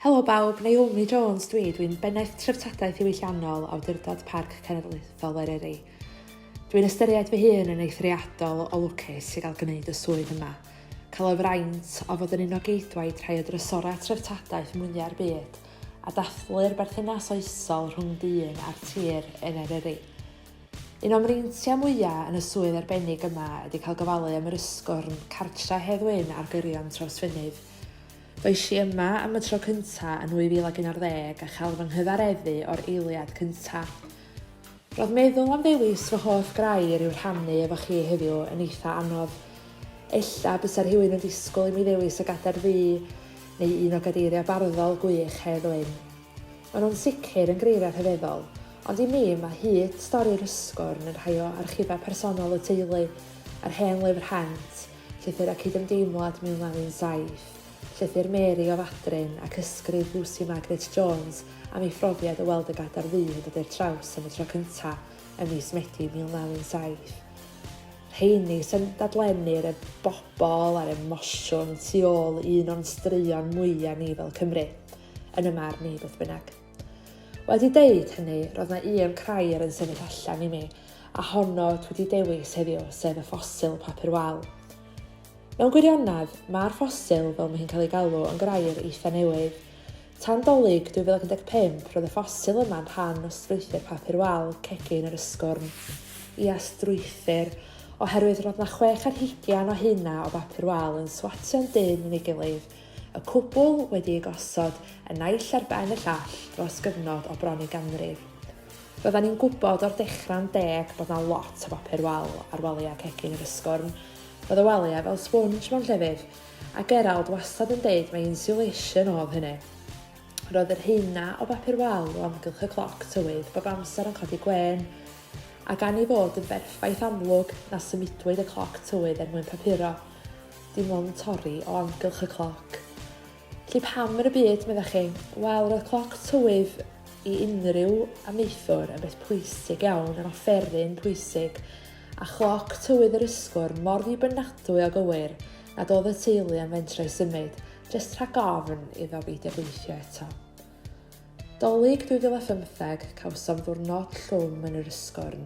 Helo bawb, Naomi Jones dwi, dwi'n Bennaeth Treftadaeth Ddiwylliannol Awdurdod Parc Cenedlaethol Eryri. Dwi'n ystyried fy hun yn eithriadol o lwcus i gael gwneud y swydd yma. Cael y fraint o fod yn un o geidwaid rhai o drysorau treftadaeth mwyaf i'r byd, a dathlu'r berthynas oesol rhwng dyn a'r tir yn Eryri. Un o'm mreintiau mwyaf yn y swydd arbennig yma ydy cael gofalu am yr ysgwrn cartre Hedd Wyn ar gyrion Trawsfynydd. Roes i yma am y tro cyntaf yn 2011 a chael fy nghyfareddu o'r eiliad cyntaf. Roedd meddwl am ddewis fy hoff grair i'w rhannu efo chi heddiw yn eitha anodd. Ella bysa rhywun yn disgwyl i mi ddewis y Gadair Ddu neu un o gadeiriau barddol gwych Hedd Wyn. Maen nhw'n sicr yn greiriau rhyfeddol, ond i mi mae hud stori'r Ysgwrn yn rhai o archifau personol y teulu, yr hen lyfr rhent, llythyr a cydymdeimlad 1917. Llythyr Mary o Fadryn ac ysgrif Lucy Margaret Jones am ei phrofiad o weld y Gadair Ddu yn dod i'r traws am y tro cyntaf ym mis Medi 1917. Rheini sy'n dadlennu'r y bobl a'r emosiwn tu ôl i un o'n straeon mwyaf ni fel Cymru, yn y marn i beth bynnag. Wedi deud hynny, roedd na un crair yn sefyll allan i mi, a honno dwi wedi dewis heddiw, sef y ffosil papur wal. Mewn gwirionedd, mae'r ffosil, fel mae hi'n cael ei galw, yn grair eitha newydd. Tan Dolig 2015, roedd y ffosil yma'n rhan o strwythur papur wal cegin yr ysgwrn. Ia, strwythur, oherwydd roedd na chwech ar hugian o hynna o bapur wal yn swatio'n dynn yn ei gilydd, y cwbl wedi ei gosod y naill ar ben y llall dros gyfnod o bron i ganrif. Roeddan ni'n gwybod o'r dechrau'n deg bod na lot o bapur wal ar waliau cegin yr ysgwrn, Oedd y waliau fel sponge mewn llefydd, a Gerald wastad yn deud mai insulation oedd hynny. Roedd yr heina o bapur wal o amgylch y cloc tywydd bob amser yn codi gwên, a gan ei fod yn berffaith amlwg na symudwyd y cloc tywydd er mwyn papuro, dim ond torri o amgylch y cloc. Felly pam yn y byd, meddech chi? Wel, roedd cloc tywydd i unrhyw amaethwr yn beth pwysig iawn, yn offeryn pwysig, a chloc tywydd yr ysgwrn mor ddibynadwy o gywir nad oedd y teulu am fentrau symud, jest rhag ofn iddo beidio gweithio eto. Dolig 2015, cawsom ddiwrnod llwm yn yr ysgwrn.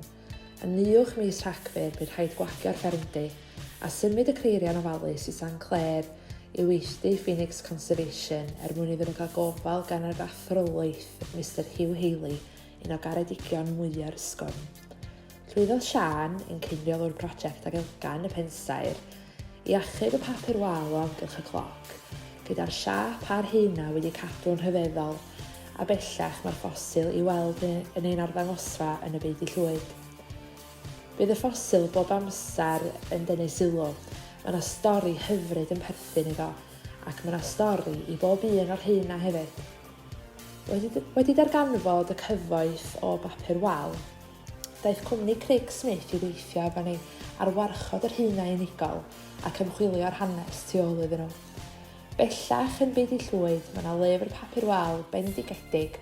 Yn uwch mis Rhagfyr, bu rhaid gwagio'r ffermdy, a symud y creiriau'n ofalus i San Clair i weithdy Phoenix Conservation er mwyn iddyn nhw cael gofal gan yr athro laeth, Mister Hugh Haley, un o garedigion mwya'r ysgwrn. Llwyddodd Siân yn cinio mewn prosiect ag Elgan y Pensaer i achub y papur wal o amgylch y cloc, gyda'r siâp a'r haenau wedi cadw'n rhyfeddol, a bellach mae'r ffosil i'w weld yn ein arddangosfa yn y Beudy Llwyd. Bydd y ffosil bob amser yn denu sylw, mae yna stori hyfryd yn perthyn iddo, ac mae yna stori i bob un o'r haenau hefyd. Wedi, wedi darganfod y cyfoeth o bapur wal, Daeth cwmni Craig Smith i weithio efo ni ar warchod yr haenau unigol ac ymchwilio'r hanes tu ôl iddyn nhw. Bellach yn byd i llwyd, mae yna lyfr papur wal bendigedig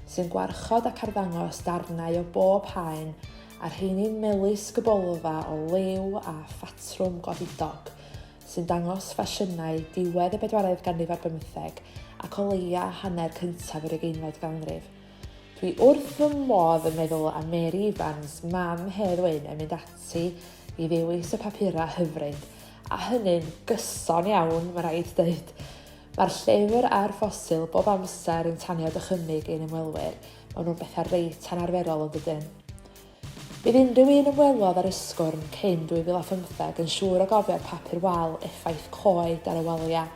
sy'n gwarchod ac arddangos darnau o bob haen a rheiny'n melys gybolfa o lew a phatrwm godidog sy'n dangos ffasiynau diwedd y bedwaredd ganrif ar bymtheg ac o leia hanner cyntaf yr ugeinfed ganrif. Dwi wrth fy modd yn meddwl am Mary Evans, mam Hedd Wyn yn mynd ati i ddewis y papurau hyfryd, a hynny'n gyson iawn, mae rhaid dweud. Mae'r llyfr a'r ffosil bob amser yn tanio dychymyg ein ymwelwyr, maen nhw'n bethau reit anarferol yn dydyn? Bydd unrhyw un ymwelodd â'r Ysgwrn cyn 2015 yn siŵr o gofio'r papur wal effaith coed ar y waliau.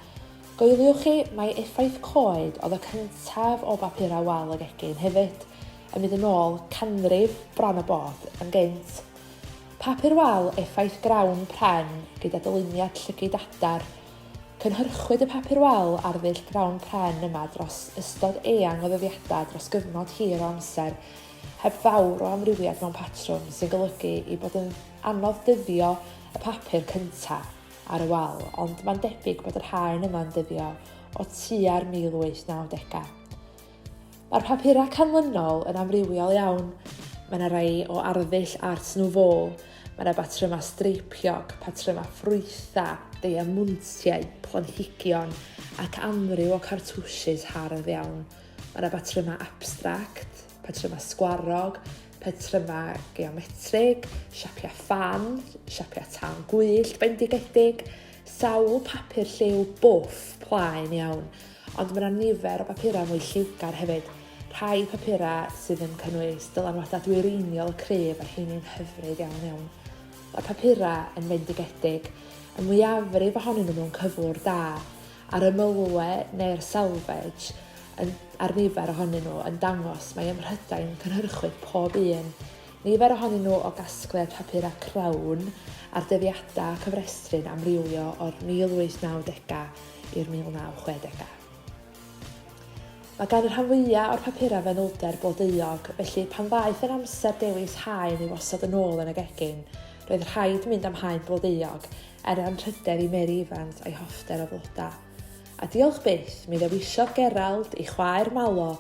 Goeliwch chi, mai effaith coed oedd y cyntaf o bapurau wal y gegin hefyd, yn mynd yn ôl canrif bron a bod yn gynt. Papur wal effaith grawn pren gyda dyluniad llygid adar. Cynhyrchwyd y papur wal ar ddull grawn pren yma dros ystod eang o ddyddiadau dros gyfnod hir o amser, heb fawr o amrywiad mewn patrwm sy'n golygu ei bod yn anodd dyddio y papur cyntaf ar y wal, ond mae'n debyg bod yr haen yma'n dyddio o tua'r 1890au. Mae'r papurau canlynol yn amrywiol iawn. Mae yna rai o arddull Art Nouveau, mae yna batrymau streipiog, patrymau ffrwytha, deiamuntiau, planhigion ac amryw o cartwshys hardd iawn. Mae yna patrymau abstract, patrymau sgwarog, patrymau geometrig, siapiau ffan, siapiau tân gwyllt bendigedig, sawl papur lliw bwff plaen iawn, ond mae yna nifer o bapurau mwy lliwgar hefyd, rhai papurau sydd yn cynnwys dylanwadau dwyreiniol y cryf a rheiny'n hyfryd iawn iawn. Mae'r papurau yn fendigedig, y mwyafrif ohonyn nhw mewn cyflwr da, a'r ymylwe neu'r selvage yn, ar nifer ohonyn nhw yn dangos mae ym Mhrydain cynhyrchwyd pob un, nifer ohonyn nhw o gasgliad papurau crawn a'r dyddiadau a cyfrestru'n amrywio o'r 1890au i'r 1960au. Mae gan y rhan fwyaf o'r papurau fanylder blodeuog, felly pan ddaeth yn amser dewis haen i wasod yn ôl yn y gegin, Roedd rhaid mynd am haen blodeuog er anrhydedd i Mary Evans a'i hoffter o flodau. A diolch byth, mi ddewisiodd Gerald, ei chwaer Malo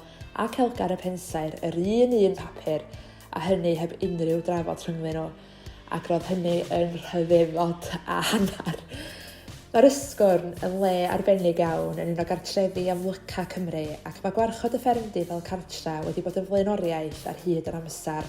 ac Elgar y Pensaer yr un un papur, a hynny heb unrhyw drafod rhyngddyn nhw, ac roedd hynny yn rhyfeddod a hanner. Mae'r Ysgwrn yn le arbennig iawn yn un o gartrefi amlyca Cymru ac mae gwarchod y ffermdy fel cartre wedi bod yn flaenoriaeth ar hyd yr amser.